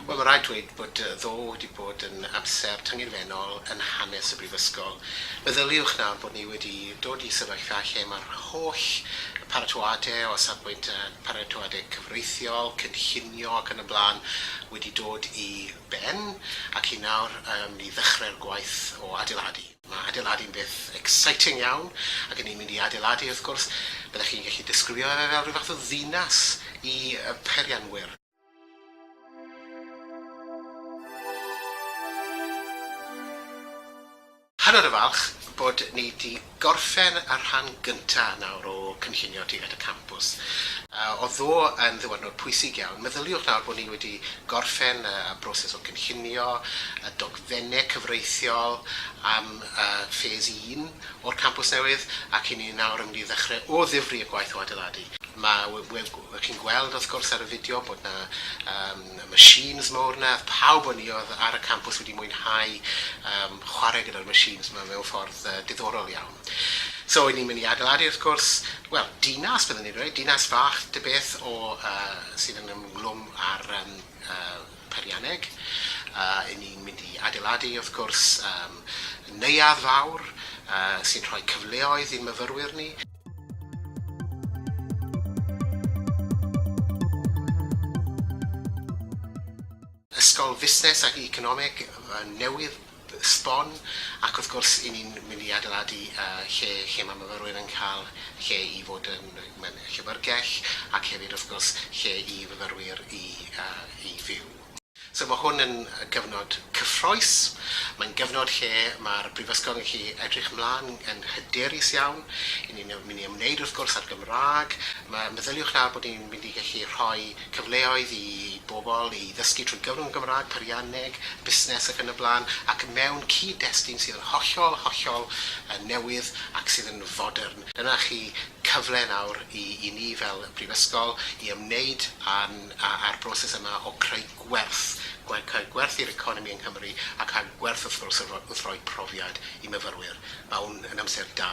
Wel, mae'n rhaid dweud bod ddo wedi bod yn amser tyngedfennol yn hanes y Brifysgol. Meddyliwch nawr bod ni wedi dod i sefyllfa lle mae'r holl paratoadau o safbwynt paratoadau cyfreithiol, cynllunio ac yn y blaen wedi dod i ben ac i nawr yym i ddechrau'r gwaith o adeiladu. Mae adeiladu'n beth exciting iawn ac yn ni'n mynd i adeiladu wrth gwrs, byddech chi'n gallu disgrifio fe fel rhyw fath o ddinas i y peirianwyr. Hanner y falch bod ni 'di gorffen y rhan gynta' nawr o cynllunio tuag at y campws. Although yn ddiwrnod pwysig iawn, meddyliwch nawr bod ni wedi gorffen y broses o gynllunio y dogfenne cyfreithiol am Phase un o'r campws newydd ac 'yn ni nawr yn mynd i ddechre o ddifri y gwaith o adeiladu. Mae, wel, chi'n gweld wrth gwrs ar y fideo bod 'na y machines mowr 'na, oedd pawb o'n i oedd ar y campws wedi mwynhau yym chwarae gyda'r machines 'ma mewn ffordd yy diddorol iawn. So 'yn ni'n mynd i adeiladu wrth gwrs, wel, dinas byddwn i'n dweud, dinas fach ta beth o yy sydd yn ymlwm â'r yym yy peirianneg. Yy 'yn ni'n mynd i adeiladu wrth gwrs yym neuadd fawr yy sy'n rhoi cyfleoedd i'n myfyrwyr ni. Ysgol Fusnes ac Economeg newydd sbon ac wrth gwrs i ni'n mynd i adeiladu lle lle mae myfyrwyr yn cael lle i fod yn mewn llyfrgell ac hefyd wrth gwrs lle i fyfyrwyr i fyw. So mae hwn yn gyfnod cyffrous, mae'n gyfnod lle mae'r Brifysgol yn gallu edrych mlaen yn hyderus iawn, i ni'n mynd i ymwneud wrth gwrs â'r Gymraeg, mae, meddyliwch nawr bod ni'n mynd i gallu rhoi cyfleoedd i bobl i ddysgu trwy gyfrwng y Gymraeg, peirianneg, busnes ac yn y blaen, ac mewn cyd-destun sydd yn hollol, hollol newydd ac sydd yn fodern. Dyna chi cyfle nawr i ni fel Brifysgol i ymwneud â'n a'r broses yma o creu gwerth, creu gwerth i'r economi yng Nghymru ac a gwerth wrth gwrs wrth roi profiad i myfyrwyr. Mae hwn yn amser da.